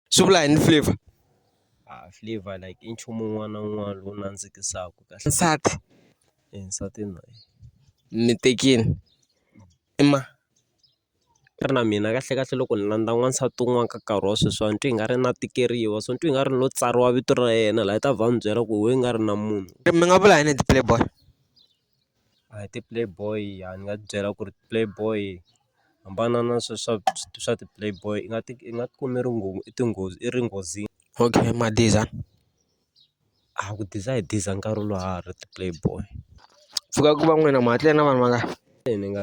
Swi vula yini flavour? A flavour like i nchumu wun'wana na wun'wana lowu nandzikisaka kahle. Nsati? E nsati na yena. Mi tekile? I ma? Ni ri na mina kahlekahle loko ni landza n'wansati un'wana ka nkarhi wa sweswiwani ni twa ingari na tikeriwa so ni twa ingari ni lo tsariwa vito ra yena laha yi ta vhela yi ni byela ku why i nga ri na munhu. Mi nga vula yini hi ti-playboy? A hi ti-play boy a ni nga ti byela ku ri ti-play boy hambana na swa swa swa ti-play boy i nga ti i nga ti kumi ri nghozi i tinghozi i ri nghozini. Okay ma diza? A ku diza hi diza nkarhi lowu ha ha ri ti-play boy. Pfuka ku va n'wina ma ha tlele na vanhu vangani? Ni nga .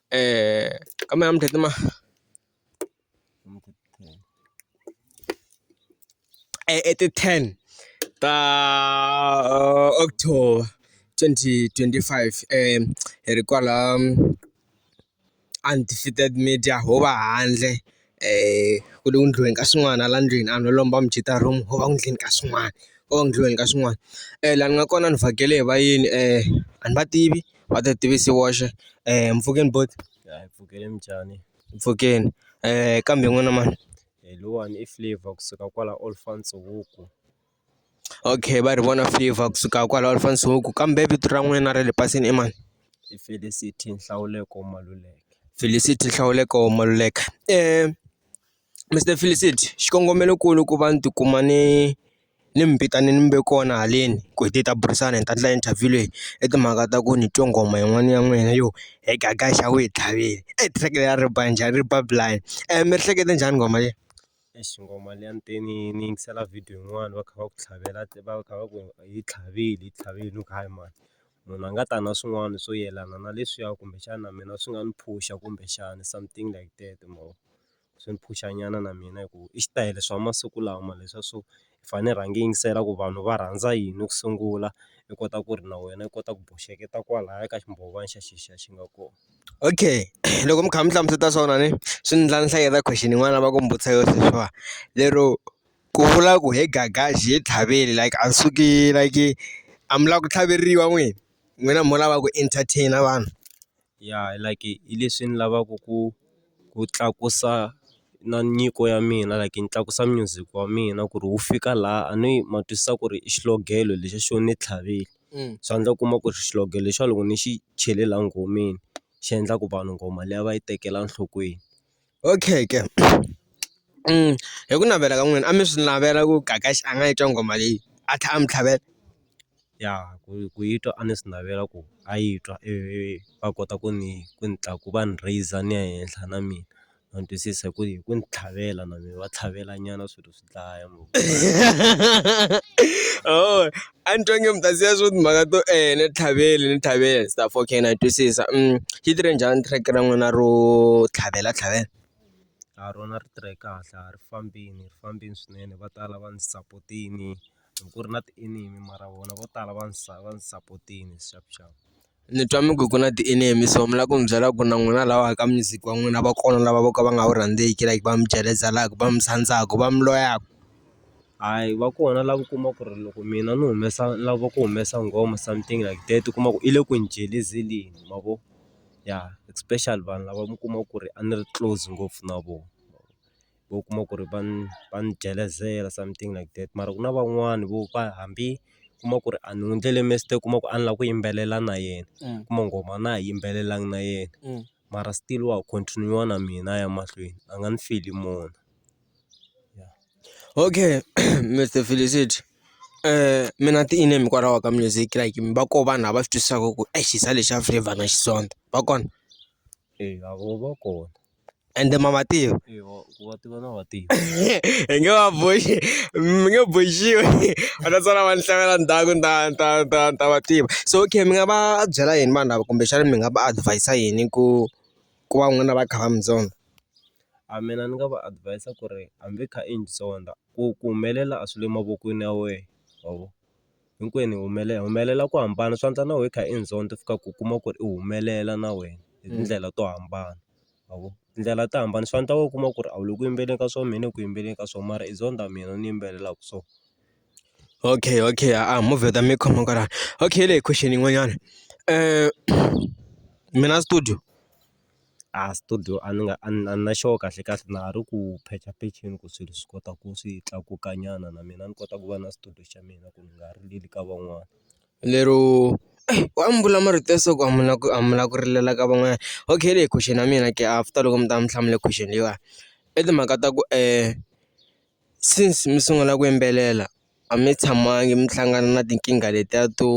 eh kama ya mtetema eh, at 10 ta uh, October 2025 eh hi ri kwala um, undefeated media ho va handle ku ri endliweni ka swin'wana hala ndlwini a no lomba mujita room wo va endleni ka swin'wana ko va endliweni ka swin'wana laha ni nga kona ni vhakele hi vayeni a ni va tivi va ti tivise voxe mpfhukeni buti hayi mpfhukeni minjhani mpfhukeni kambe n'wina mani hi lowuwani i flavour kusuka kwala Olifantshoek. Okay va ri vona favor kusuka kwalaho Alfa Nsuku kambe vito ra n'wina ra le pasini i mani? I Felicity Nhlawuleko Maluleke. Felicity Nhlawuleko Maluleke Mister Felicity xikongomelonkulu ku va ni tikuma ni ni mi vitane ni mi ve kona haleni ku hi te hi ta burisana hi ta endla interview leyi i timhaka ta ku ni twe nghoma yin'wana ya n'wina yo he gaga xawe hi tlhavile e track leriya ri ba njhani ri ba blind mi ri hlekete njhani nghoma leyi. Eish ngoma liya ni te ni yi ni yingisela video yin'wani va kha va ku tlhavela va kha va ku yi tlhavile yi tlhavile ni ku hayi mhani munhu a nga ta na swin'wana swo yelana na leswiya kumbexana mina swi nga ni phusha kumbexana something like that ma vo swi ni phusha nyana na mina hi ku i xitayele swa masiku lama leswiya swo hi fanele hi rhanga hi yingisela ku vanhu va rhandza yini ku sungula, hi kota ku ri na wena u kota ku boxeketa kwalaya ka ximbhovana xa xexo xi nga kona. Okay loko mi kha mi hlamusela swona ni swi endla ni hleketa question yin'wana a va ku ni vutisa yona sweswiwani. Lero ku vula ku he Gagaji he tlhavele like a suki like a mi lava ku tlhaveriwa n'wina? N'wina mo lava ku entertain-a vanhu? ya like hi leswi ni lavaka ku ku tlakusa na nyiko ya mina like ni tlakusa music wa mina ku ri wu fika laha a ni ma twisisa ku ri i xiogelo lexi xo ni tlhavile swa endla u kuma ku ri xihlogo lexiya loko ni xi chele laha nghomeni xi endla ku vanhu nghoma liya va yi tekela enhlokweni. okay ke hi ku navela ka n'wina a mi swi navela ku Gagax a nga yi twa nghoma leyi a tlhela a mi tlhavela ya ku ku yi twa a ni swi navela ku a yi twa ivi va kota ku ni ku ni ku va ni rheyisa ni ya henhla na mina ma twisisa hi ku hi ku ni tlhavela na mina va tlhavelanyana swilo . dlaya ngopfu oh a ni twa nge mi ta siya swo timhaka to eeh ni tlhavele ni tlhavele se ta okay na twisisa xi tirhe njhani track-e ra n'wina ro tlhavela tlhavela? A rona ri tirhe kahle a ri fambini ri fambini swinene va tala va ni sapotini hi ku ri na ti enemy mara vona vo tala va ndzi va ndzi sapotile sharp sharp. Ni twa mi ku ku na ti enemy so mi lava ku mi byela ku na n'wina lava ka music wa n'wina va kona lava vo ka va nga wu rhandzeki like va mi jelezelaka va mi sandzaka va mi loyaka. Hayi va kona lava u kuma ku ri loko mina ni humesa lava ku humesa nghoma something like that u kuma ku i le ku ni jelezeleni ma vo ya especially vanhu lava mi kuma ku ri a ni ri close ngopfu na vona. u kuma ku ri va ni va ni jelezela something like that mara ku na van'wani vo va hambi u kuma ku ri a ni n'wi endlele mistake u kuma ku a ni lava ku yimbelela na yena u kuma nghoma a na ha yimbelelanga na yena mara still wa ha continue-a na mina a ya mahlweni a nga ni feli mona okay Mister Felicity mi na ti-name hikwalaho ka music like va ko vanhu lava swi twisisaka ku exisa lexi xa flavour na Xitsonga va kona. eya vo va kona ende ma va tiva ku va tiva na va tiva hi nge va boxi mi nge boxiwi va ta sala va ni hlamala ndzhaku ni ta ni ta ni ta ni ta va tiva so okay mi nga va byela yini vanhu lava kumbexana mi nga va advis-a yini ku ku va n'wina va kha va mi zonda a mina ni nga va advis-a ku ri hambi i kha i ni zonda ku ku humelela a swi le mavokweni ya wena ma vo. hinkwenu hi humelela hi humelela ku hambana swa endla na wehe u kha i ndzhonda u fika ku u kuma ku ri u humelela na wena hi tindlela to hambana ma vo tindlela to hambana swa endla u kuma ku ri a wu le ku yimbeleni ka swona mina ni le ku yimbeleni ka swona mara i ndzhonda mina ni yimbelelaka so okay okay a movha ta mi khoma kwalano okay leyi question yin'wanyana mina studio. a studio a ni nga a ni a ni na xoho kahle kahle na ha ri ku phechaphecheni ku swilo swi kota ku swi tlakuka nyana na mina ni kota ku va na studio xa mina ku ni nga rileli ka van'wana lero wa mbula marito ya so ku a mi la ku a mi la ku rilela ka van'wana okay leyi question ya mina ke after loko mi ta va mi hlamula question leyiwani i timhaka ta ku since mi sungula ku yimbelela. a mi tshamangi mi hlangana na tinkingha letiya to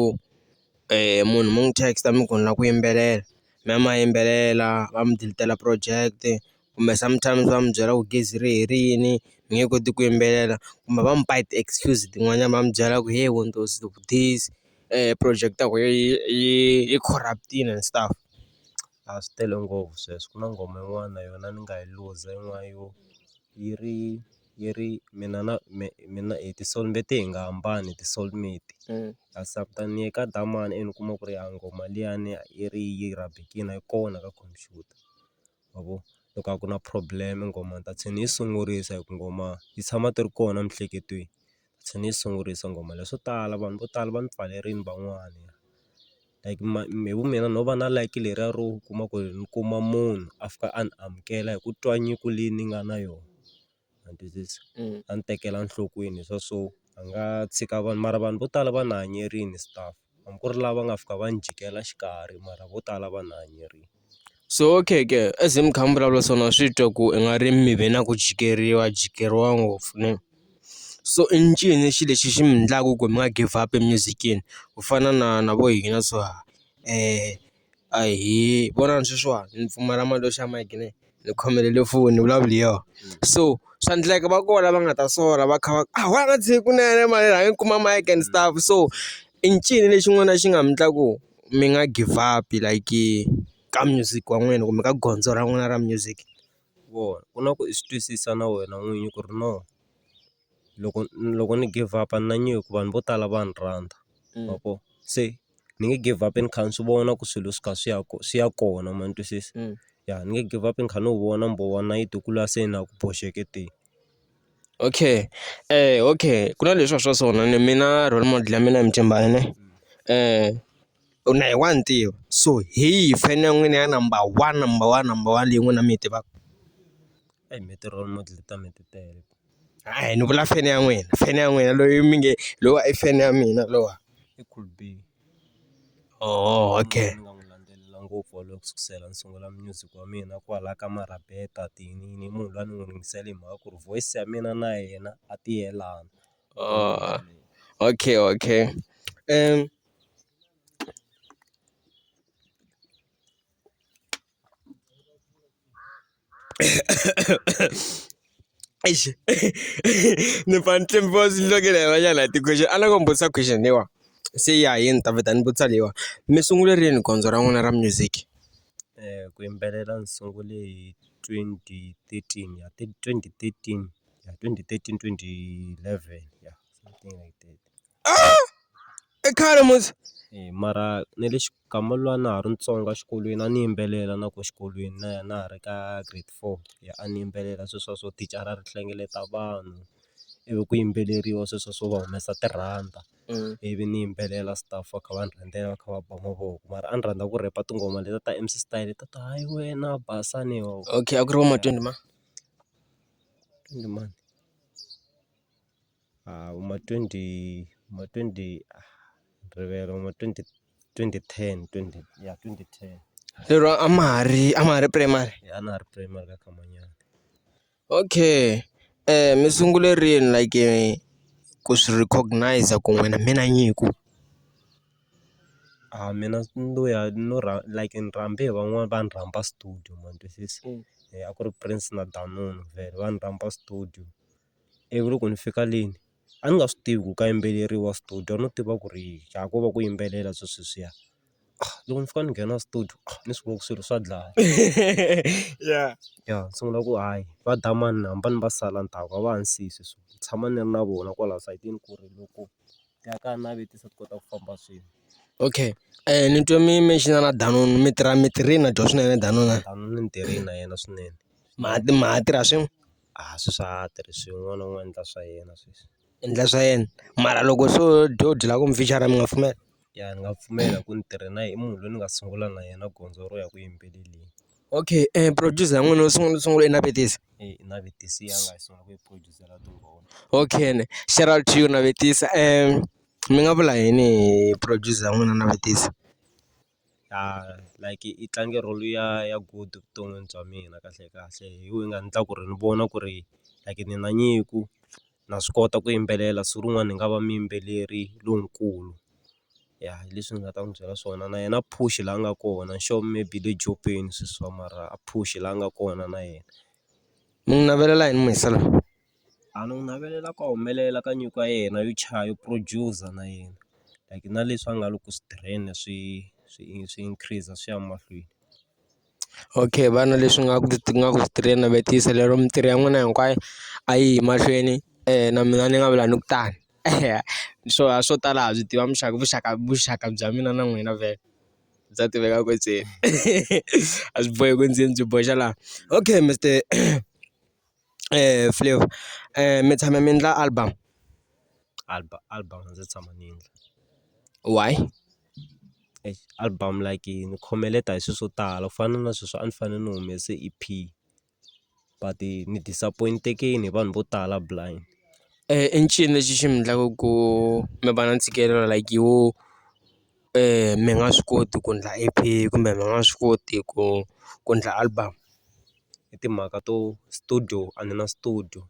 munhu mi n'wi text-a mi ku ni lava ku yimbelela mi ya mi ya yimbelela va mi delete-ela project kumbe sometimes va mi byela ku gezi ri herile mi nge koti ku yimbelela kumbe va mi ba ti-excuse tin'wanyana va mi byela ku he windows this project ya wena yi yi yi corrupt-ini and stuff a swi tele ngopfu sweswo ku na nghoma yin'wana na yona ni nga yi luza yin'wana yo yi ri. yi ri mina na mina hi ti soul-mate hi nga hambani hi ti soul-mate kasi after ni ye ka Dlhamani ivi ni kuma ku ri ya nghoma liyani yi ri yi rhabekini a yi kona ka khompyuta ma vo loko a ku na problem nghoma ni ta tlhe ni yi sungurisa hi ku nghoma yi tshama ti ri kona emiehleketweni. ni tlhe ni yi sungurisa nghoma leyi swo tala vanhu vo tala va ni pfalerini van'wani like hi vu mina no va na like leriya ro u kuma ku ri ni kuma munhu a fika a ni amukela hi ku twa nyiko leyi ni nga na yona ma twisisa a ni tekela nhlokweni swa so a nga tshika vanhu mara vanhu vo tala va ni hanyerile stuff. hambi ku ri lava nga fika va ni jikela xikarhi mara vo tala va ni hanyerile. So okay ke as mi kha mi vulavula so na swi twa ku i nga ri mi ve na ku jikeriwa jikeriwa ngopfu ne so i ncini xilo lexi xi mi endlaka ku mi nga give up emizikeni ku fana na na vo hina swa . ahee vonani sweswiwani ni pfumala mali yo xava mayiki ne ni khomelele foni vulavula yo so swa endleka va kona lava nga ta sola va kha va a wa ha nga tshiki kunene mali rhanga ni kuma mayiki and stuff so i ncini lexi n'wana xi nga mi endla ku mi nga give up like ka music wa n'wina kumbe ka gondzo ra n'wina ra music vona ku na ku i swi twisisa na wena n'winyi ku ri no loko loko ni give up a ni na nyiko vanhu vo tala va ni rhandza ma vo se. ni nge give up ni kha ni swi vona ku swilo swi kha swi ya swi ya kona ma ni twisisa ya ni nge give up ni kha ni wu vona mbhovo wa nayiti wu kula se na ku boxeke te. Okay okay ku na leswiya swa sona ni mina role model ya mina hi Mthimbani ne u na hi wa ni tiva so hi yihi fan ya n'wina ya number one number one number one leyi n'wina mi yi tivaka? Mehe ti-role model ta mina ti tele. hayi ni vula fene ya n'wina fene ya n'wina loyi mi nge lowa i fene ya mina lowa i cool B oho okay ni nga n'wi landzelela ngopfu wa loko sukusela ni sungula music wa mina kwala ka Marabeta tinini i munhu lwa ni n'wi ringisela hi mhaka ku ri voice ya mina na yena a ti yelana okay okay Eish. ni pfa ni tlemba va ndzi hlekela hi van'wana hi ti-question a ni ku mi vutisa question leyiwani se ya hi ni ta vheta ni vutisa leyiwani mi sungule rini gondzo ra n'wina ra music ku yimbelela ndzi sungule hi twenty thirteen ya twenty thirteen ya twenty thirteen twenty eleven ya something like that. i khale musi mara na le xigamu lwa na ha ri ntsongo exikolweni a ni yimbelela na ku xikolweni na ya na ha ri ka grade four ya a ni yimbelela se swa so thicara ri hlengeleta vanhu ivi ku yimbeleriwa sweswo swo va humesa tirhanda ivi ni yimbelela stuff va kha va ni rhambela va kha va ba mavoko mara a ni rhandza ku rheta tinghoma leti ta M_C style ta ta hayi wena basa ni ho okay a ku ri va ma twenty ma twenty mani. A hi ma twenty ma twenty rivele ma twenty twenty ten twenty ya twenty ten. Lero a ma ha ri a ma ha ri primary. A na ha ri primary ka mhanyana. Okay mi sungule rini like ku swi recognize-a ku n'wina mi na nyiko. A mina no ya no like ni rhambe hi van'wani va ni rhamba studio ma twisisa a ku ri Prince na Danunu vhele va ni rhamba studio. ivi loko ni fika le a ni nga swi tivi ku ka yimbeleriwa studio a no tiva ku ri ha ko va ku yimbelela swi sweswiya loko ni fika ni nghena studio ni swi vona ku swilo swa dlaya ya ya ni sungula ku hayi va dlaya mani ni hamba ni va sala ndzhaku a va ha ni siyi sweswo ni tshama ni ri na vona kwalaya sayitini ku ri loko ti ya ka navetisa ti kota ku famba swin'we. Okay ni twe mi mention-a na Danunu mi tirha mi tirhile na dyoho swinene Danunu. Danunu ni tirhile na yena swinene ma ma ha tirha swin'we. a swi swa ha tirhisiwi un'wana na un'wana u endla swa yena sweswi. U endla swa yena mara loko se wo dya u dyela kwini mi nga pfumela? Ya ni nga pfumela ku ni tirha na yena i munhu loyi ni nga sungula na yena gondzo ro ya ku yimbeleleni. Okay producer ya n'wina u sungule u sungule u yi navetisa? E-e i navetisa a nga yi sungula ku yi producer na tinghoma. Okay ne shout out to you navetisa mi nga vula yini hi producer ya n'wina navetisa? ya like i tlange role ya ya good evuton'wini bya mina kahlekahle hi yona yi nga endla ku ri ni vona ku ri like ni na nyiko na swi kota ku yimbelela siku rin'wana ni nga va muyimbeleri lonkulu ya hi leswi ni nga ta n'wi byela swona na yena a phuxi laha a nga kona sure maybe le jokweni sweswiwa mara a phuxi laha a nga kona na yena ni n'wi navelela yini Mahesalela. A ni n'wi navelela ku humelela ka nyiko ya yena yo chaya yo producer na yena like na leswi a nga le ku swi tirheni swi swi swi increase swi ya mahlweni. Okay vana leswi nga ku nga ku tirheni navetisa lero mintirho ya n'wina hinkwayo a yi yi mahlweni na mina ni nga vula ni ku tano swo a swo tala ha byi tiva muxaka vuxaka vuxaka bya mina na n'wina vhele bya tiveka kwetseni a swi bohi ku ndzeni byi boxa laha okay Mister. Flavour mi tshame mi endla album album album a ndzi se tshama ni yi endla why exi album like yi ni khomeleta hi swilo swo tala ku fana na sweswi a ni fanele ni humese E_P but ni disappoint-ekini hi vanhu vo tala blind i ncini lexi xi mi endlaka ku mi va na ntshikelelo like wo. mi nga swi koti ku endla E_P kumbe mi nga swi koti ku ku endla album hi timhaka to studio a ni na studio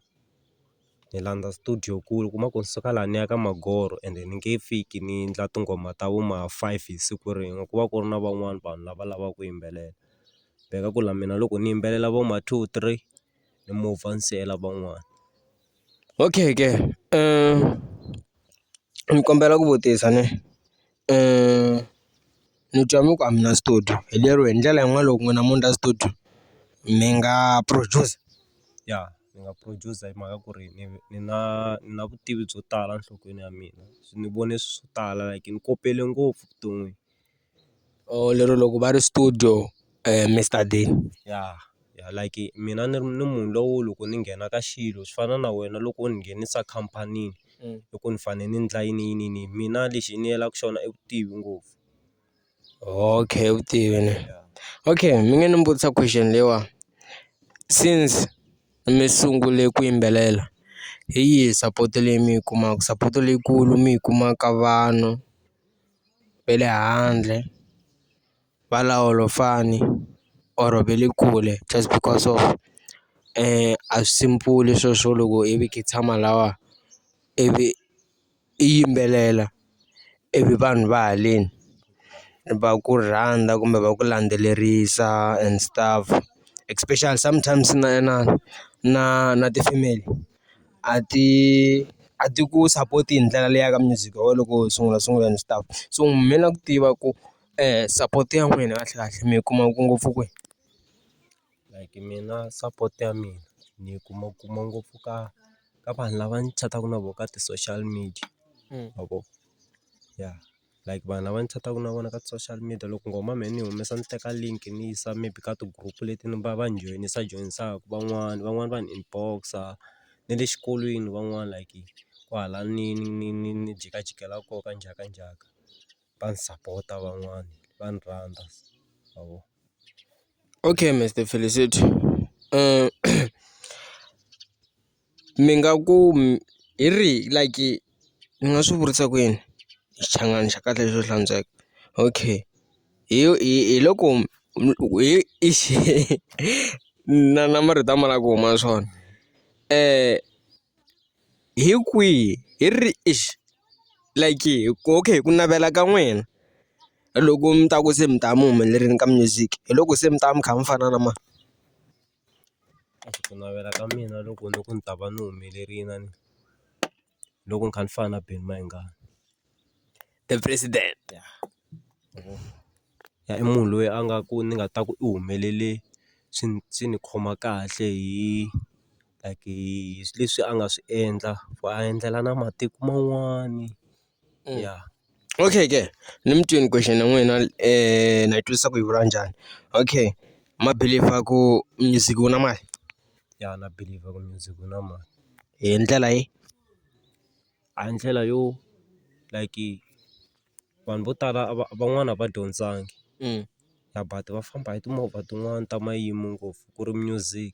ni landza studio ku ri u kuma ku ni suka laha ni ya ka Magoro ende ni nge fiki ni endla tinghoma ta vo ma five hi siku rin'we ku va ku ri na van'wani vanhu lava lavaka ku yimbelela ku la mina loko ni yimbelela vo ma two three. ni mu vavisela van'wana okay ke ni kombela ku vutisa ne ni twa mi ku a mi na studio hi lero hi ndlela yin'wana loko n'wina mo ndla studio mi nga produce ya ni nga produce hi mhaka ku ri ni ni na ni na vutivi byo tala enhlokweni ya mina ni vone swi swo tala like ni kopele ngopfu vuton'wini. Oh, lero loko va ri studio Mister Dean ya ya like mina ni ni munhu lowo loko ni nghena ka xilo swi fana na wena loko u ni nghenisa khampani i ku ni fanele ni endla yini yini yini mina lexi ni yela ka xona i vutivi ngopfu okay vutivi ne okay mi nge ni vutisa question leyiwani since mi sungule ku yimbelela hi yihi support leyi mi yi kumaka support leyikulu mi yi kuma ka vanhu. ve le handle va la Olofana or ve le kule just because of a swi simple swilo swo loko i vi kha i tshama lawa ivi i yimbelela ivi vanhu va haleni va ku rhandza kumbe va ku landzelerisa and stuff especially sometimes na na na na ti-female. a ti a ti ku support hi ndlela leyi ya ka music wa wena loko u sungula sungula ni stuff so mina na ku tiva ku support ya n'wina kahle kahle mi yi kuma ku ngopfu kwihi like mina support ya mina ni yi kuma kuma ngopfu ka ka vanhu lava ni chataka na vona ka ti-social media ma vo ya. like vanhu lava ni chataka na vona ka ti-social media loko nghoma mehe ni yi humesa ni teka link ni yi yisa maybe ka ti-group leti ni va va ni joyinisa joyinisaka van'wani van'wani va ni inbox-a na le xikolweni van'wana like kwala ni ni ni ni ni jikajikela kona ka njhakanjhaka va ni sapota van'wana va ni rhandza ma vo. Okay Mister Felicity . mi nga ku hi ri like ni nga swi vurisa ku yini xichangani xa kahle xo hlantsweka okay hi hi hi loko na na marito a ma lava ku huma swona hi kwihi hi ri like okay hi ku navela ka n'wina loko mi ta ku se mi ta mu humelerile ka music hi loko se mi ta va mi kha mi fana na mani. Ku navela ka mina loko ni ku ni ta va ni humelerile na ni loko ni kha ni fana na Benny Mayengani the president ya i munhu loyi a nga ku ni nga ta ku i humelele swi ni swi ni khoma kahle hi like hi leswi a nga swi endla ku a endlela na matiko man'wani. Mm. yeah okay ke ni mutweni question ya n'wina um na yi twisisa ku yi vula njhani okay ma believer ku music wu na mali ya na believer ku music wu na mali hi ndlela yi a ndlela yo like vanhu vo tala van'wana va dyondzangi mm. ya but va famba hi timovha tin'wani ta mayimo ngopfu ku ri music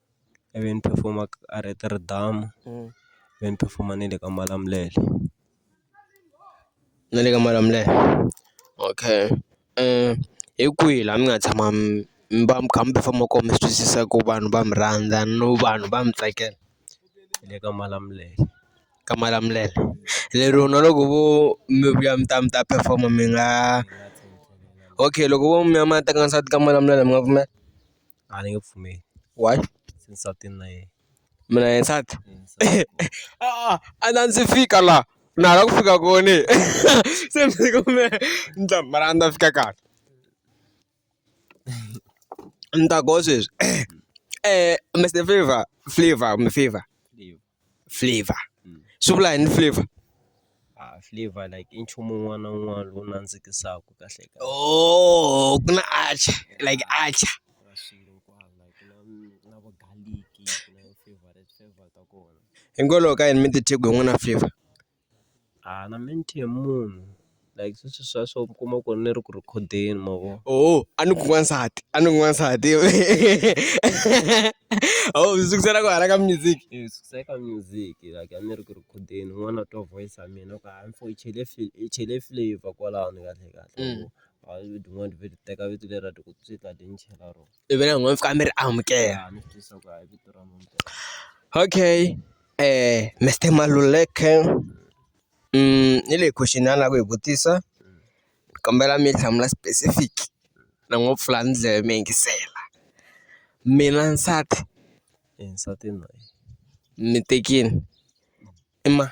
i vi ni perform-a a ri ti ri damu ve ni perform-a ni le ka malamulele na le ka malamulele okay hi kwihi laha mi nga tshama mi mi va mi kha mi perform-a koho mi swi twisisa ku vanhu va mi rhandza no vanhu va mi tsakela hi le ka malamulele ka malamulele lero na loko vo mi vuya mi ta mi ta perform-a mi nga okay loko vo mi ya mi ya teka nsati ka malamulele mi nga pfumela. a ni nge pfumeli why nsati na yena mina hi nsati a na ndzi fika laha na ha la ku fika kona se ni fika me ni ta mara a ni ta fika kahle ni ta go sweswi Mister Flavour Flavour kumbe Favor. flavor mm. swi vula yini flavor ah, flavor like i nchumu un'wana na un'wana lowu nandzikisaka kahle kahle oh ku na acha like acha hikwalaho ka yini mi titheku hi n'wana flavor A na mente ya munhu like sweswi swa swo mi kuma ku ni ri ku rhikhodeni ma vo oh a ni ku n'wansati a ni ku n'wansati oh swi sukisela ku hala ka music eh, sukisa ka music like a ni ri ku rhikhodeni n'wana twa voice ya mina ku hayi mfo i chele fil i chele flavor kwalano kahle kahle mm. a yi tin'wana vheti teka vito lera ti ku tswika ti ni chela rona ivi na n'wina mi fika mi ri amukela okay Mister Maluleke ni leyi question a ni lava ku yi vutisa ni kombela mi yi hlamula specific ni ngo pfula ni dleve mi yingisela mina nsati nsati ni tekini i ma.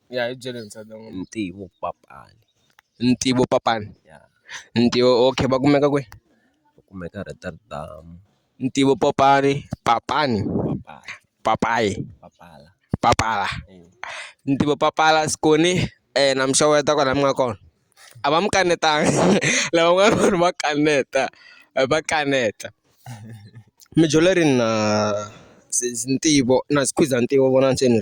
Ya hi byeli ntsena Ntivopapani. Ntivopapani? Ya. Ntivo okay va kumeka kwihi? Va kumeka Rotterdam. Ntivopopani, Papani? Papala. Papayi? Papala. Papala. Ntivopapala Skoni na muxaka ya ta kwala mi nga kona a va mi kanetanga lavan'wana vanhu va kaneta va kaneta mi dyondza rini na Ntivo na Skhwiza Ntivo vona ntsena .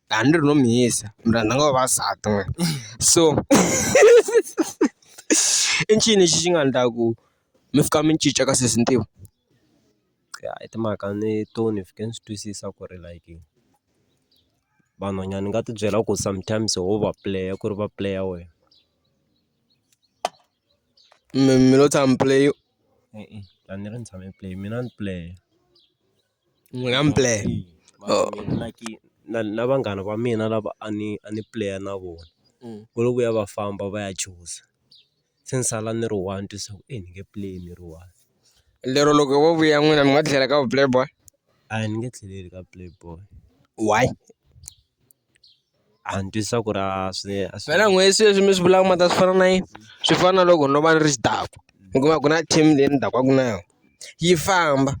dani rinomuhisa muranda nga vavasati n'we so i ncini lexi xi nga ndla ku mi fika mi cinca ka sesi ntivo ya i timhaka ni to ni fike ni swi twisisa ku ri like vanhwanyani ni nga tibyela ku sometimes ho va puleya ku ri va puleya wena mi mi lo tshama mi puleyini e-e a ni ri ni tshame ni pule mina ni pule. Ni nga mi pulaya na na vanghana va mina lava a ni a ni pulaya na vona ku ri ku ya va famba va ya chuza se ni sala ni ri one se ni nge pulayi ni ri one. Lero loko vo vuya n'wina mi nga tlhela ka vu play boy? A ni nge tlheleli ka play boy. Why? antswisa ku ri a swi a swi wena n'we se leswi mi swi vulaka ma ta swi fana na yini swi fana na loko no va ni ri xidakwa hikuva ku na team leyi ni dakwaka na yona yi famba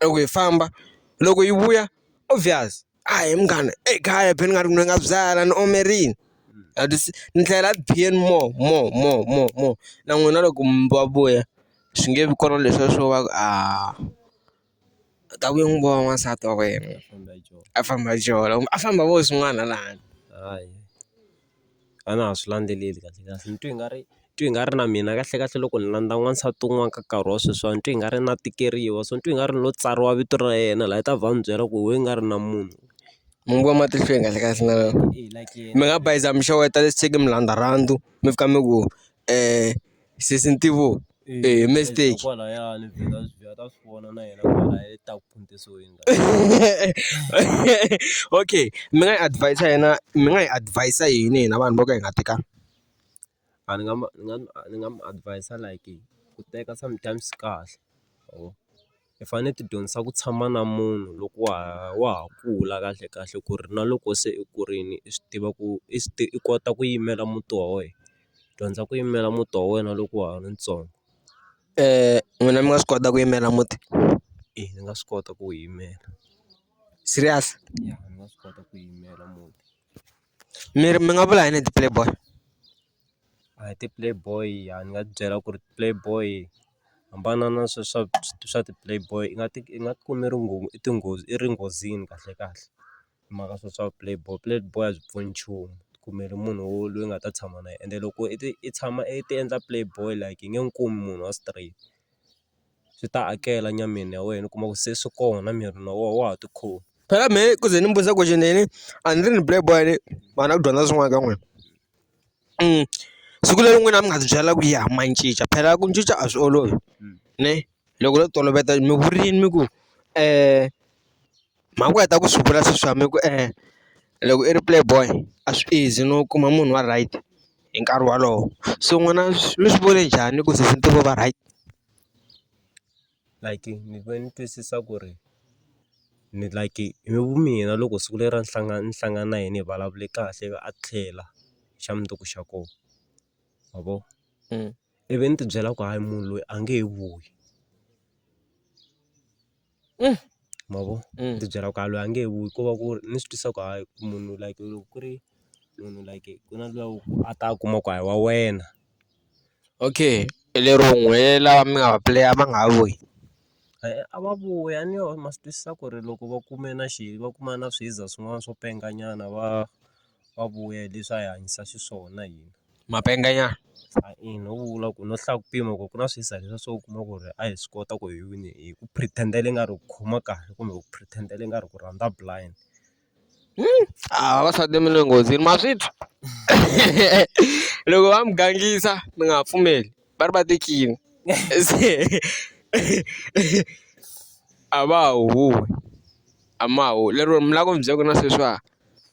loko hi famba loko yi vuya obvious a hi munghana e kaya be ni nga ri ni nga byala ni ome rini a ti se ni tlhela then more more more more more na n'wina loko mi va vuya swi nge vi kona leswiya swo va ku a. ta ku n'wi vona n'wansati wa wena a famba a jola kumbe a famba a vona swin'wana laha handle hayi a na ha swi landzeleli kahlekahle ni twa i nga ri twa i nga ri na mina kahlekahle loko ni landza n'wansati un'wana ka nkarhi wa sweswiwani ni twa i nga ri na tikeriwa so ni twa i nga ri no tsariwa vito ra yena laha i ta va mi byela ku we i nga ri na munhu mi n'wi vona matihlweni kahlekahle na mi nga bayiza mi xeweta mi landza rhandzu mi fika mi ku . Sisitivo e mistake kwalayani vheta vheta ta swi vona na yena kwalaya ta ku phuntisweni okay mi nga yi advise yena mi nga yi advise yini hina vanhu vo ka hi nga tekanga a ni nga ni nga ni nga mu advise like ku teka sometimes swi kahle or. hi fanele hi ti dyondzisa ku tshama na munhu loko wa ha wa ha kula kahle kahle ku ri na loko se i kurile i swi tiva ku i swi i kota ku yimela muti wa wena dyondza ku yimela muti wa wena loko wa ha ri ntsongo n'wina mi nga swi kota ku yimela muti i ni nga swi kota ku yimela serious ya ni nga swi kota ku yimela muti mi ri mi nga vula yini hi ti-play boy. A hi ti-play boy a ni nga ti byela ku ri ti-play boy hambana na swa swa swa ti-play boy i nga ti i nga ti kumi ri nghoma i tinghozi i ri nghozini kahle kahle hi mhaka swa swa play boy play boy a byi pfuni nchumu ti kumeli munhu wo loyi nga ta tshama na yena ende loko i ti i tshama i ti endla play boy like i nge n'wi kumi munhu wa straight. swi ta hakela nyameni ya wena u kuma ku se swi kona miri na wona wa ha ti khoma phela me ku ze ni mi vutisa ku xi nini a ni ri ni black boy ni vanhu a ku dyondza swin'wana ka n'wina siku leri n'wina mi nga ti byela ku ya ma cinca phela ku cinca a swi olovi ne loko no toloveta mi vurini mi ku . mhani ku heta ku swi vula se swa mina ku loko i ri play boy a swi easy no kuma munhu wa right hi nkarhi wolowo so n'wina mi swi vone njhani ku sesitini vo va right like ni ve ni twisisa ku ri ni like hi vu mina loko siku leri ra ni hlangana ni hlangana na yena hi vulavule kahle ivi a tlhela xa mundzuku xa kona ma vo ivi ni tibyela ku hayi munhu loyi a nge he vuyi. ma vo ni ti byela ku a loyi a nge he vuyi ko va ku ri ni swi twisisa ku hayi munhu like loko ku ri munhu like ku na luya wa ku a ta a kuma ku a hi wa wena okay lero n'we lava mi nga va puleya va nga ha vuyi a va vuyi a ni ma swi twisisa ku ri loko va kume na xi va kuma na swiza swin'wana swo penga nyana va. va vuya hi leswi a hi hanyisa xiswona hina. Mapenga ya. A ina u vula ku no hlaya ku pima ku ku na swi hisa hisa swo u kuma ku ri a hi swi kota ku hi wina hi ku pretend-ela ingari hi ku khoma kahle kumbe ku pretend-ela ingari ku rhandza blind. A vavasati mi le nghozini ma swi twa loko va mi gangisa mi nga ha pfumeli va ri va ti king se a va ha huhwi a ma ha huhwi lero mi lava ku ni byela ku na sweswiwa.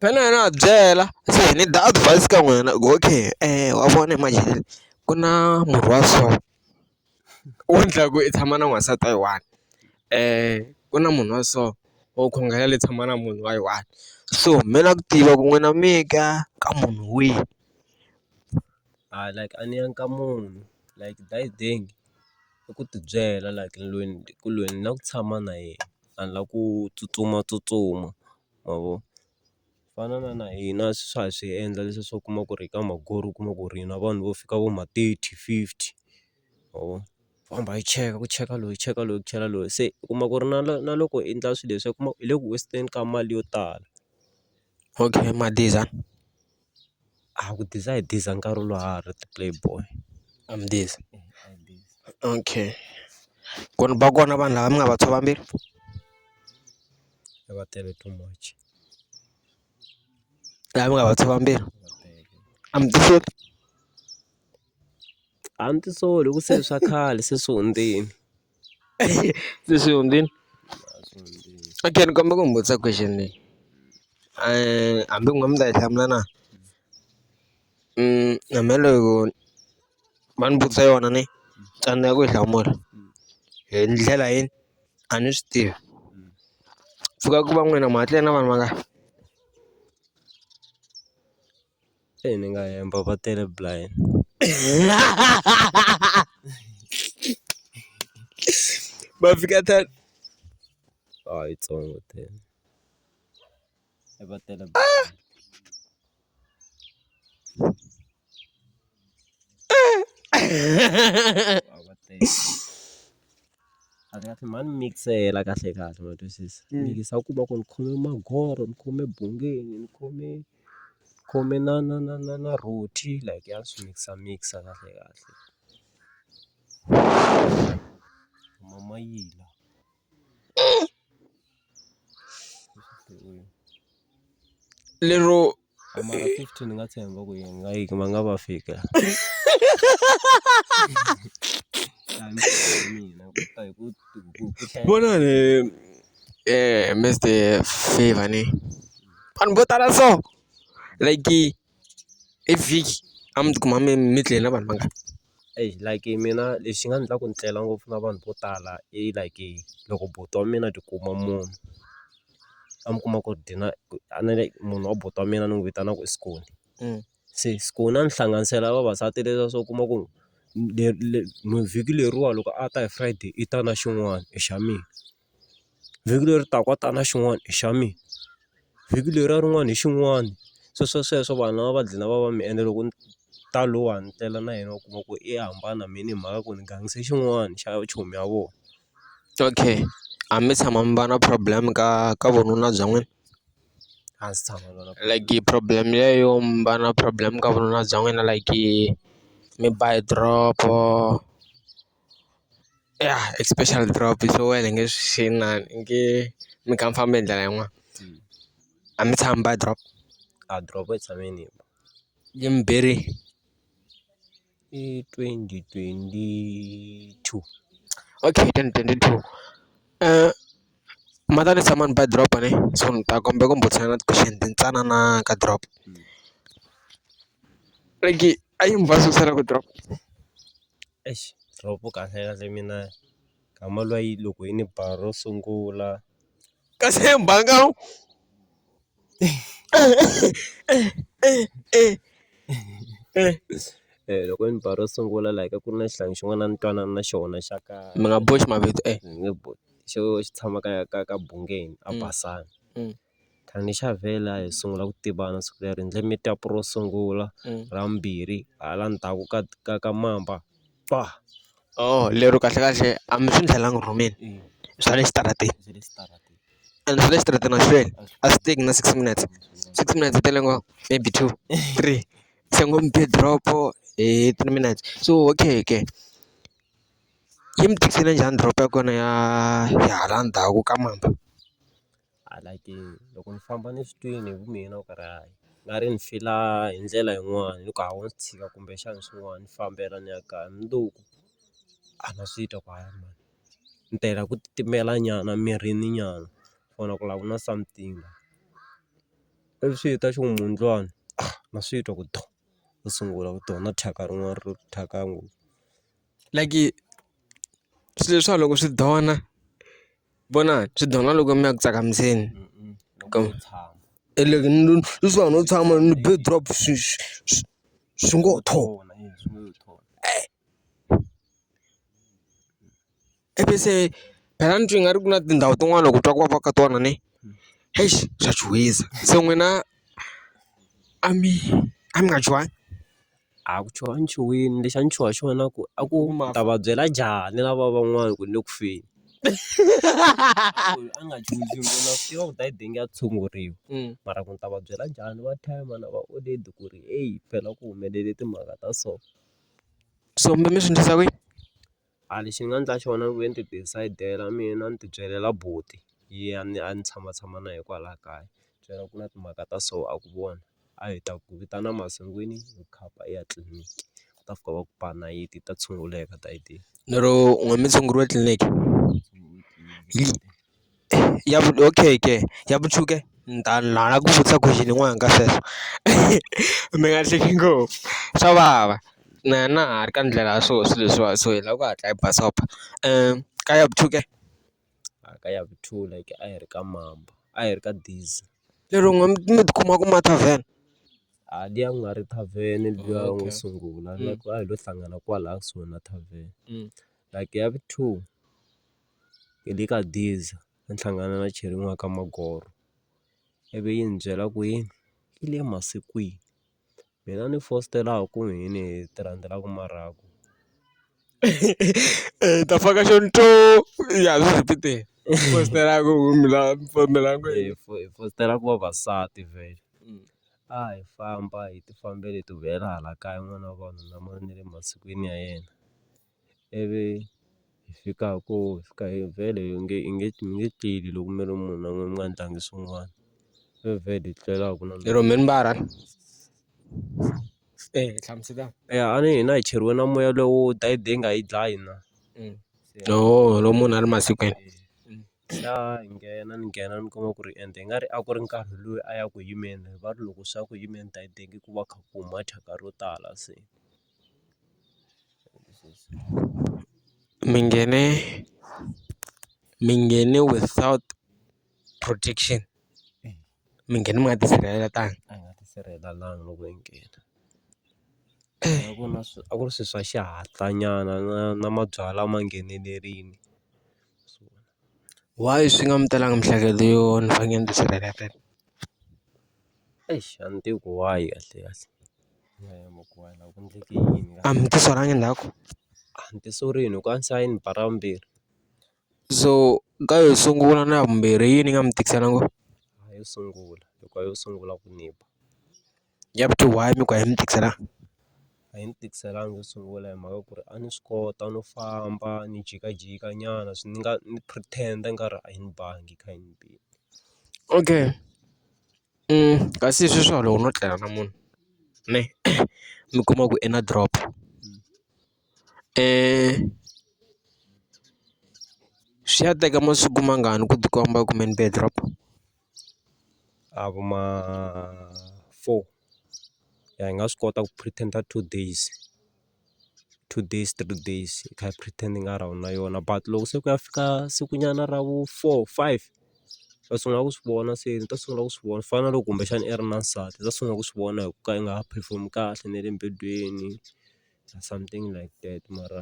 Phela a va byela se hi need advise ka n'wina ku okay wa vona manjhe ku na murhi wa so wu endlaku i tshama na n'wansati wa yi one ku na munhu wa so wo khongela leyi tshama na munhu wa yi one so mi lava ku tiva ku n'wina mi ya ka ka munhu wihi a like a ni ya ka munhu like die ding i ku tibyela like ni lweni ku lweni na ku tshama na yena. vanhu lava ku tsutsumatsutsuma ma vo ku fana na na hina swa ha swi endla leswi swo kuma ku ri ka magoro u kuma ku ri na vanhu vo fika vo ma thirty fifty ma vo va hamba va cheka ku cheka loyi ku cheka loyi ku cheka loyi se u kuma ku ri na na loko i endla swilo leswi u kuma hi le ku waste-eni ka mali yo tala. Okay Madiza, a ku Diza hi Diza nkarhi lowu a ha ri ti-play boy a mi Diza okay ku ri va kona vanhu lava mi nga va tshova mbilu a va tele too much lava mi nga va tshova mbilu a mi tisoli a ni tisoli hi ku se swa khale se swi hundzini. Sisundin. Okay, ni kombela ku mi vutisa question leyi eh, hambi n'we mi ta yi hlamula na mm, hambi loko va ni vutisa yona ni tsandzeka ku yi hlamula hi ndlela yini a ni swi tivi pfuka ku va n'wina mahatleni na vanhu va nga Eyi ni nga hemba va tele blind va fika ta a yi tsongo tele a va tele kahle mhani mikisela kahle kahle ma twisisa mikisa u kuma ku ni khome magoro ni khome bungeni ni khome. khume na na na na na rhoti like ya swi mikisa mikisa kahle kahle ma ma yila lero mara fifty ni nga tshemba ku yi nga yi ma nga va fika vona ni. Eh, Mr. Favor ne. An bota da so. Like, if he, I'm kuma me mitle na ban manga. Eyi like mina lexi nga ni endla ku ni tlela ngopfu na vanhu vo tala i like loko buti wa mina a tikuma munhu a mi kuma ku dinner a ni ri munhu wa buti wa mina ni n'wi vitana ku i Skhoni. se ku na ni hlanganisela ya vavasati leswa se u kuma ku vhiki leriwani loko a ta hi Friday i ta na xin'wana i xa mina, vhiki leri taka a ta na xin'wana i xa mina, vhiki leriya rin'wana hi xin'wana sweswo sweswo vanhu lava va dlina va va mi ende loko ni ta lowuwani ni tlela na yena u kuma ku i hambana mina hi mhaka ku ni gangise xin'wana xa chomi ya vona. Okay a mi se tshama mi va na problem ka ka vununa bya n'wina? a ndzi tshama na like problem liya yo mi va na problem ka vununa bya n'wina like mi ba hi drop ya especially drop so wena hi nge swi inani hi nge mi kha mi famba hi ndlela yin'wani a mi tshami mi ba drop a drop yi tshame yi ni ba yi mi berile. I twenty twenty two okay hi twenty twenty two mhani ni tshama ni ba drop ne so ni ta kombela ku burisana na ti-question tintsanana ka drop like a yi ni ku drop exi drop kahle kahle mina. nkama luwa yi loko yi ni ba ro sungula kasi hi mbanga loko ni ba ro sungula la ka ku ri na xihlangi xin'wana a ni twanana na xona xa ka mi nga boxi mavito e ni nge xo xi tshama ka ka ka bungeni a Basani. khale ni Xavhele a hi sungula ku tivana siku leri hi endle meet up ro sungula ra vumbirhi hala ndzhaku ka ka ka mamba ba oh lero kahlekahle a mi swi ndlelanga rhumeni i swa le xitarateni and swa le xitarateni a swi hlweli a swi teki na six minutes six minutes yi tele ngopfu maybe two three se ngo mi be drop hi three minutes so okay ke yi mi tisele njhani drop ya kona ya ya hala ndzhaku ka mamba. a like loko ni famba ni swi twini hi ku mina ku ri hayi ni nga ri ni fila hi ndlela yin'wani ni ku hawa swi tshika kumbexana swin'wana ni fambela ni ya kaya mundzuku a ni swi twa ku hayi mani ni ta hela ku titimela nyana mirini nyana or ku lava ku nwa something ivi swi ta xi ku mundlwana na swi twa ku to ni sungula ku twa na thyaka rin'wana ro thyaka ngopfu. like swilo leswiwa loko swi dona vona swi dona loko mi ya ku tsakamisa leswiwani no tshama ni be drop swi swi swi swi ngo tho . Epese phela ni twi nga ri ku na tindhawu tin'wani loko u twa ku vava ka tona ne eish swa chuhisa se n'wina a mi a mi nga chuhangi? A ku chuha a ni chuhile lexi a ni chuha xona ku a ku ni ta va byela njhani lava van'wani ku ni le ku feni a nga chuhi na swi tiva ku ta yi denge ya tshunguriwa mara ku ni ta va byela njhani va thyakisa mhana va olede ku ri heyi phela ku humelele timhaka ta so so mi mi swi endlisa ku yini. A lexi ni nga endla xona ni vuye ni ti decide-ela mina ni ti byelela buti ya ni a ni tshama tshama na ye kwala kaya byela ku na timhaka ta so a ku vona a hi ta ku vitana masungwini hi khapa hi ya tliliniki u ta fika va ku ba nayiti ta tshunguleka ta yi tiyile lero u nga mi tshunguriwa tliliniki . Ya okay ke ya vuchuke ni ta ni lava ku vutisa question yin'wana ka sweswo mi nga hleki ngopfu swa vava na na ha ri ka ndlela ya swona swilo leswiwani so hi lava ku hatla hi basopa ka ya vuchuke ka ya vuthula ke a hi ri ka mambo a hi ri ka daisy lero n'we mi mi tikuma ku ma tavern a liya ku nga ri tavern liya u ngo sungula a hi lo hlangana kwalaya kusuhi na tavern like ya vu two. hi le ka diesel ni hlangana na cheriwa ka magoro ivi yi ni byela ku yini yi le masikwini mina ni fositela ku yini hi ti rhandzela ku mara ku hi ta faka xo ya swi rhipiteni fositela ku fositela ku vavasati vhele a hi famba hi ti fambela hi ti huwelela hala kaya n'wana wa vanhu na mali ni le masikwini ya yena. ivi hi fika ku fika hi vhele hi nge hi nge hi nge tleli loko mi ri munhu mi nga ndlangi swin'wana hi vhele hi tlela a ku na lero mi ri mbara eya hi hlamusela eya a ni hina hi cheriwe na moya lowo dayiti leyi nga hi dlayi na oho loko munhu a ri masikwini se a hi nghena ni nghena ni kuma ku ri ende i nga ri a ku ri nkarhi loyi a ya ku yimeni va ri loko swa ku yimeni dayiti ku va kha ku huma thyaka ro tala se. Mingene mingene without protection mi nghena mi nga tisirhelelanga a nga tisirhelelanga loko yi nghena a ku na a ku ri swilo swa xihatla nyana na na mabyalwa ma nghenelerile why swi nga mi telanga miehleketo yo ni fanekele ni tisirheletela eish a ni tivi ku why kahle kahle. A mi ti solangi ndzhaku a ni ti sorini hikuva a ni se va ni ba ra vumbirhi so ka yo sungula na ya vumbirhi hi yini yi nga mi tikisela ngopfu yo sungula hikuva yo sungula ku ni ba ya vu two why mi ku a yi mi tikiselanga a yi ni tikiselanga yo sungula hi mhaka ku ri a ni swi kota no famba ni jikajika nyana swi ni nga ni pretend-a ni nga ri a yi ni bangi kha yi ni bile okay. kasi hi sweswi loko no tlela na munhu ne mi kuma ku i na drop swi ya teka masiku mangani ku tikomba ku me ni be drop a vo ma four ya hi nga swi kota ku pretender two days. two days three days i kha i pretend-a i nga ri a wu na yona but loko se ku ya fika sikunyana ra vu four five u ta sungula ku swi vona se ni ta sungula ku swi vona ku fana na loko kumbexana i ri na nsati u ta sungula ku swi vona hi ku ka i nga ha perform-i kahle na le mibilwini something like that mara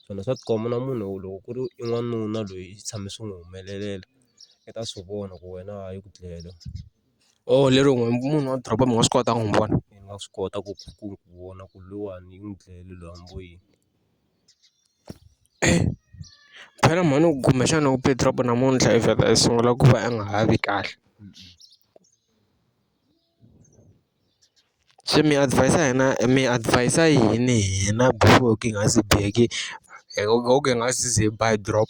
swona swa tikomba na munhu loko ku ri i n'wanuna loyi i tshame swi n'wi humelelela i ta swi vona ku wena a yi ku dlele. Oh lero n'we munhu wa doroba mi nga swi kota ku n'wi vona? Mi nga swi kota ku ku ku vona ku lowani u n'wi dlayele loyi a n'wi boini. phela mhani u gume xana u be drop namuntlha i vheta i sungula ku va a nga ha vi kahle se mi adhivayisa hina mi adhivayisa yini hina before ku nga se biheki hi nga se ze hi ba hi drop.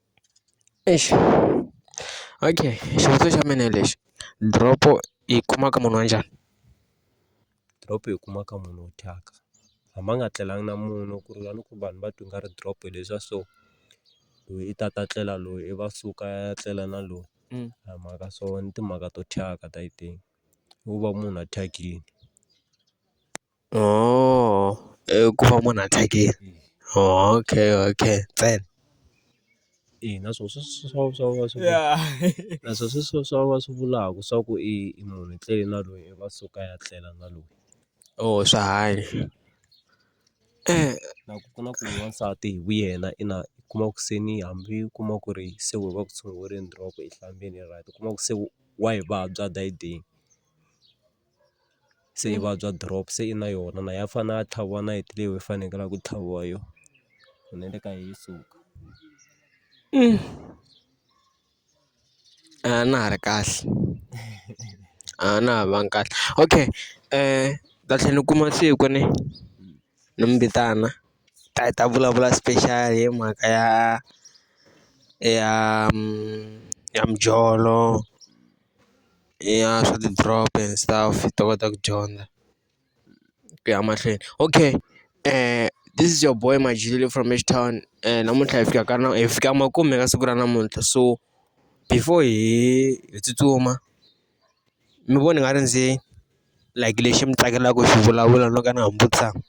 Eish okay xivutiso xa mina hi lexi drop yi kuma ka munhu wa njhani? Drop yi kuma ka munhu wo thyaka hambi a nga tlelanga na munhu ku ri a ni ku vanhu va twa i nga ri drop hi leswiya so loyi i ta ta tlela loyi i va suka a ya tlela na loyi a hi mhaka so ni timhaka to thyaka ta i think wo va munhu a thyakile. oo i ku va munhu a tlekile okay okay ntsena ina swo swi swi swa swa va swi ya na swo swi swa swa va swi vulaka swa ku i munhu i tlele na loyi i va suka ya tlela na loyi oo swa hanya na ku ku na ku n'wansati hi vu yena i na u kuma ku se ni hambi u kuma ku ri se we va ku tshunguriweni u kuma ku se wa yi vabya a dayideni. se yi vabya drop se i na yona na ya fane ya tlhaviwa nayiti leyi yi fanekele ku tlhaviwa yo hi na le ka yi suka a na ha ri kahle a na ha vangi kahle okay ni ta tlhe ni kuma siku ni ni mi vitana hi ta hi ta vulavula special hi mhaka ya ya ya mijolo ya swa ti-drop and stuff hi ta kota ku dyondza ku ya mahlweni okay this is your boy Majele from H Town namuntlha hi fika ka na hi fika makume ka siku ra namuntlha so before hi hi tsutsuma mi vona nga ri ndzi like lexi mi tsakelaka ku xi vulavula no ka na ha mi vutisaka.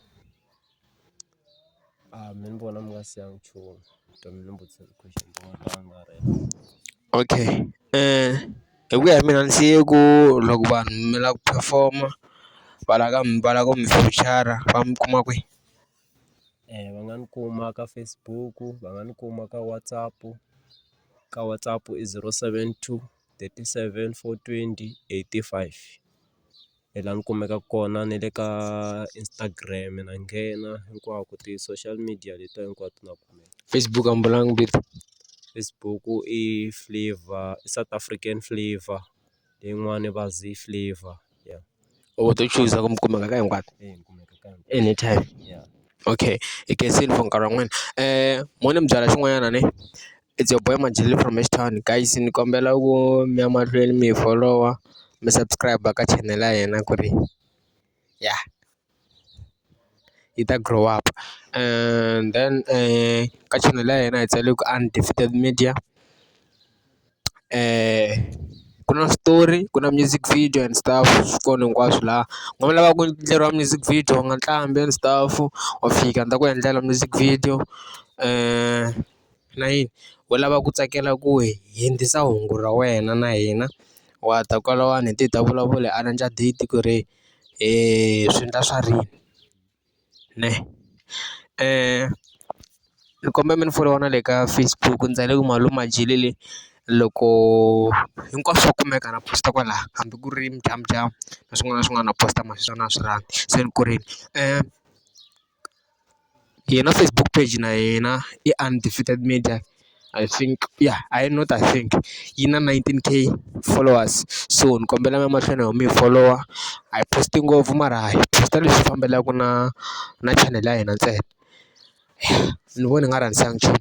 mina ni vona mi nga siya nchumu vutomi ni mbuti okay hi ku ya hi mina ni siye ku loko vanhu mi lava ku perform-a va lava ka mi va lava ku mi vhotshara va mi kuma kwihi va nga ni kuma ka Facebook va nga ni kuma ka WhatsApp ka WhatsApp i zero seven two thirty seven four twenty eighty five. hi laha ni kumeka kona ni le ka Instagram na nghena hinkwako ti-social media letiya hinkwato na kona Facebook a ni vulanga ku Facebook i Flavour i South African Flavour leyin'wani va Zee i Flavour ya or to chuza ku mi kumeka ka hinkwato anytime ya okay hi khensile for nkarhi wa n'wina mo ni mi byela xin'wanyana ne. It's your boy Majele from H Town guys ni kombela ku mi ya mahlweni mi hi folowa mi subscribe ka channel ya hina ku ri ya yi ta grow up and then eh, ka channel ya hina hi tsale ku undefeated media eh ku na switori ku na music video and stuff swi kona hinkwaswo laha nga mi lava ku endleriwa music video nga nqambi and stuff wa fika ni ta ku endlela music video um na yini u lava ku tsakela ku hi hundzisa hungu ra wena na hina wa ta kwalawani hi te hi ta vulavula hi arrange date ku ri hi swi endla swa rini ne ni kombela mi ni folowa na le ka Facebook ndzi tsale ku malume a dyile le loko hinkwaswo swa kumeka na post kwala hambi ku ri mudyambu dyambu na swin'wana na swin'wana na post ma sweswo a na ha swi rhandzi se ni korile . Yena Facebook page na yena i Undefeated Media I think ya hayi not I think yi na nineteen K followers, so ni kombela mi ya mahlweni ho mi folowa a hi post-i ngopfu mara hi post-a leswi fambelanaka na na chanel ya hina ntsena ni vona hi nga rhangisi nchumu .